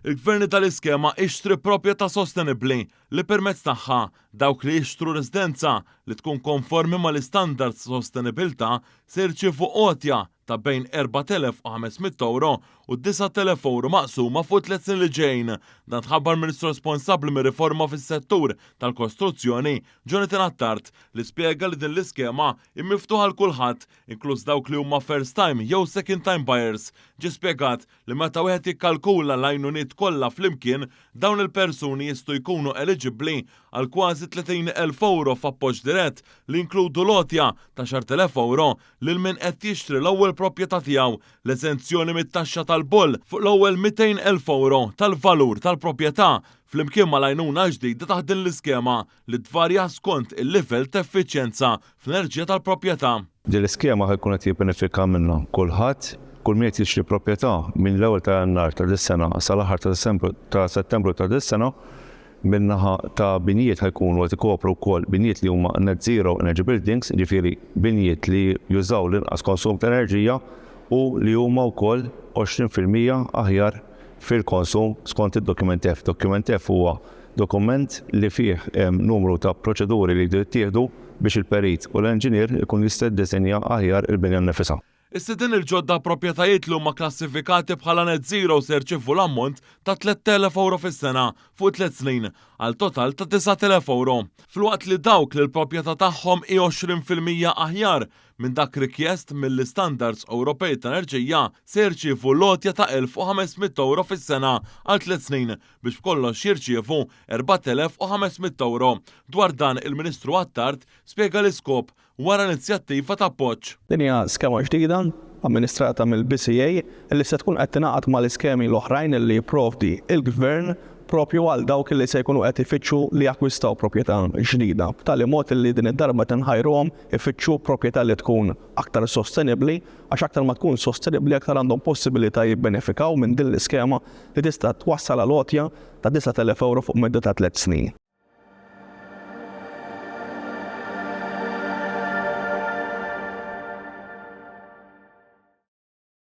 Il-gverni tal-iskema Ixtri Proprjetà Sostenibbli, li permezz tagħha dawk li jixtru residenza li tkun konformi mal-istandards ta' sostenibilità se jirċievu għotja ta' bejn €4,500 u €9,000 maqsuma fuq it-tliet snin li ġejjin. Dan tħabbar Ministru responsabbli mir-riforma fis-settur tal-kostruzzjoni, Jonathan Attard, li spjega li din l-iskema hi miftuħa għal kulħadd, inkluż dawk li huma first-time jew second-time buyers. Ġie spjegat li meta wieħed jikkalkula l-għajnuniet kollha flimkien, dawn il-persuni jistgħu jkunu eliġibbli għal kważi 30 elf ewro f'appoġġ dirett li jinkludu l-għotja ta' xar tilef ewro lil min qed jixtri l-ewwel proprjetà tiegħu, l-eżenzjoni mit-taxxa tal-boll fuq l-ewwel 200 elf ewro tal-valur tal-proprjetà, flimkien mal-għajnuna l-ġdida taħt din l-iskema. li tvarja skont il-livell ta' effiċjenza fl-enerġija tal-proprjetà. Din l-iskema ħa jkun qed jibbenefika minnha kulħadd, kull min qed jixtri proprjetà minn l-ewwel ta' Jannar ta' dis-sena sal-aħħar ta' Diċembru ta' Settembru ta' dis-sena, min-naħa ta' binjiet ħa jkunu qed ikopru wkoll binjiet li huma Net Zero Energy Buildings, jiġifieri binjiet li jużaw l-inqas konsum ta' enerġija u li huma wkoll 20 fil-mija aħjar fil-konsum skont id-Dokument F. Dokument F huwa dokument li fih hemm numru ta' proċeduri li jridu jittieħdu biex il-perit u l-enġinier ikun jista' jiddisinja aħjar il-binja nnifisha. Is-sidien il-ġodda b'proprjetajiet li huma kklassifikati bħala Net Zero se jirċievu l-ammont ta' tlett elef ewro fis-sena fuq tliet snin, għal total ta' disgħat elef ewro, filwaqt li dawk li l-proprjetà tagħhom hi għoxrin fil-mija aħjar minn dak rikjest mill-istandards Ewropej ta' enerġija, se jirċievu l-għotja ta' 1,500 ewro fis-sena għal tliet snin, biex b'kollox jirċievu 4,500 ewro. Dwar dan, il-Ministru Attard spjega l-iskop wara l-inizjattiva ta' appoġġ. Din hija skema ġdida, amministrata mill-BCA, li se tkun qed tingħaqad mal-iskemi l-oħrajn li jipprovdi l-Gvern proprju għal dawk li se jkunu qed ifittxu li jakkwistaw proprjetà ġdida, b'tali mod li din id-darba tinħajruhom Ifittxu proprjetà li tkun aktar sostenibbli għax aktar ma tkun sostenibbli aktar għandhom possibilità jibbenefikaw minn din l-iskema li tista' twassal għal għotja ta' 9,000 ewro fuq medda ta' tliet snin.